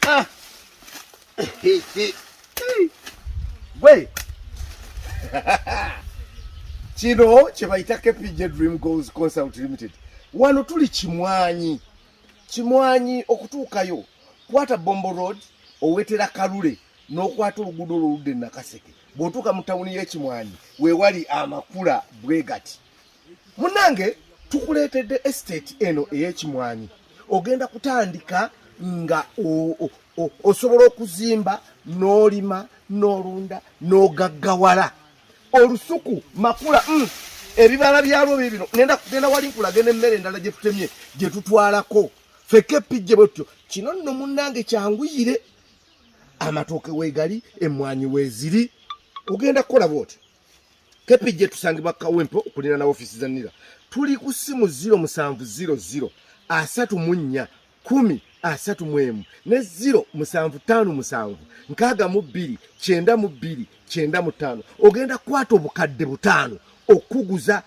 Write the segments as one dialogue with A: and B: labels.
A: Ah. Gwe. Kino kye bayita KPJ Dream Goals Consult Limited. Wano tuli Kimwanyi. Kimwanyi okutuukayo kwata Bombo Road owetera Kalule n'okwata oluguudo oluludde Nakaseke. Bw'otuuka mu tawuni y'Ekimwanyi weewali amakula bwe gati. munange tukuleetedde estate eno ey'ekimwanyi ogenda kutandika nga osobola okuzimba n'olima n'olunda n'ogaggawala olusuku makula mm, ebibala byalwo bibino genda wali nkulaga n'emmere endala gye tutemye gye tutwalako feke epijje bwetutyo kino nno munnange kyanguyire amatooke weegali emmwanyi weeziri ogenda kukola bwotyo kepije tusangibwa kawempo okulina na ofisi za nira tuli ku simu 0700 asatu munya kumi asatu mwemu ne 0 musanvu tano musanvu nkaga mu bbiri kyenda mu bbiri kyenda mu tano ogenda kwata obukadde butano okuguza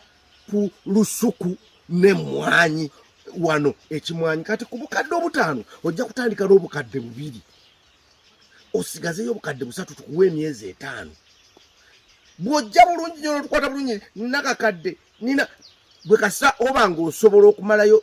A: ku lusuku ne mwanyi wano ekimwanyi kati ku bukadde obutano ojja kutandika n'obukadde bubiri osigazeyo obukadde busatu tukuwa emyezi etaano bwojja bulungi nyo notukwata bulungi nakakadde nina gwe kasa oba nga osobola okumalayo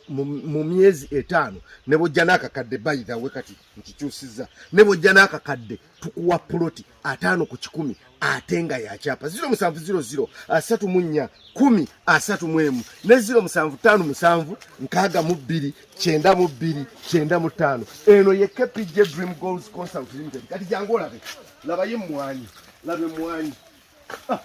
A: mu myezi etaano ne bwojja nakakadde bayithawe kati nkikyusiza ne bwojja nakakadde tukuwa puloti ataano ku kikumi ate nga yakyapa ziro musanvu ziro ziro asatu mu nnya kumi asatu mu emu ne ziro musanvu ttaano musanvu nkaaga mu bbiri kyenda mu bbiri kyenda mu ttaano eno ye kpj dream goals consult limited kati jangu olabe labayo emmwanyi laba emmwanyi ah!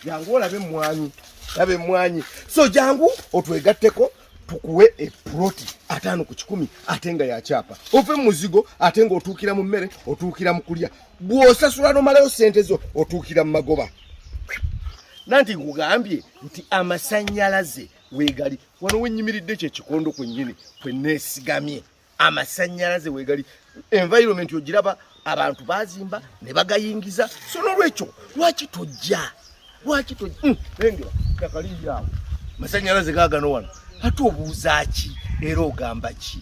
A: jangu olabe emmwanyi laba emmwanyi so jangu otwegatteko tukuwe epuloti ataano ku kikumi ate nga yakyapa ove mu muzigo ate nga otuukira mu mmere otuukira mu kulya bw'osasula nomalayo sente zo otuukira mu magoba nanti nkugambye nti amasannyalaze weegali wano wenyimiridde kyekikondo kwennyini kwe neesigamye amasanyalaze wegali environment ogiraba abantu bazimba ne bagayingiza so nolwekyo lwaki tojja lwaki tojja hmm, lengera takaliyaawo masanyalaze gagano wano ate obuuza ki era ogamba ki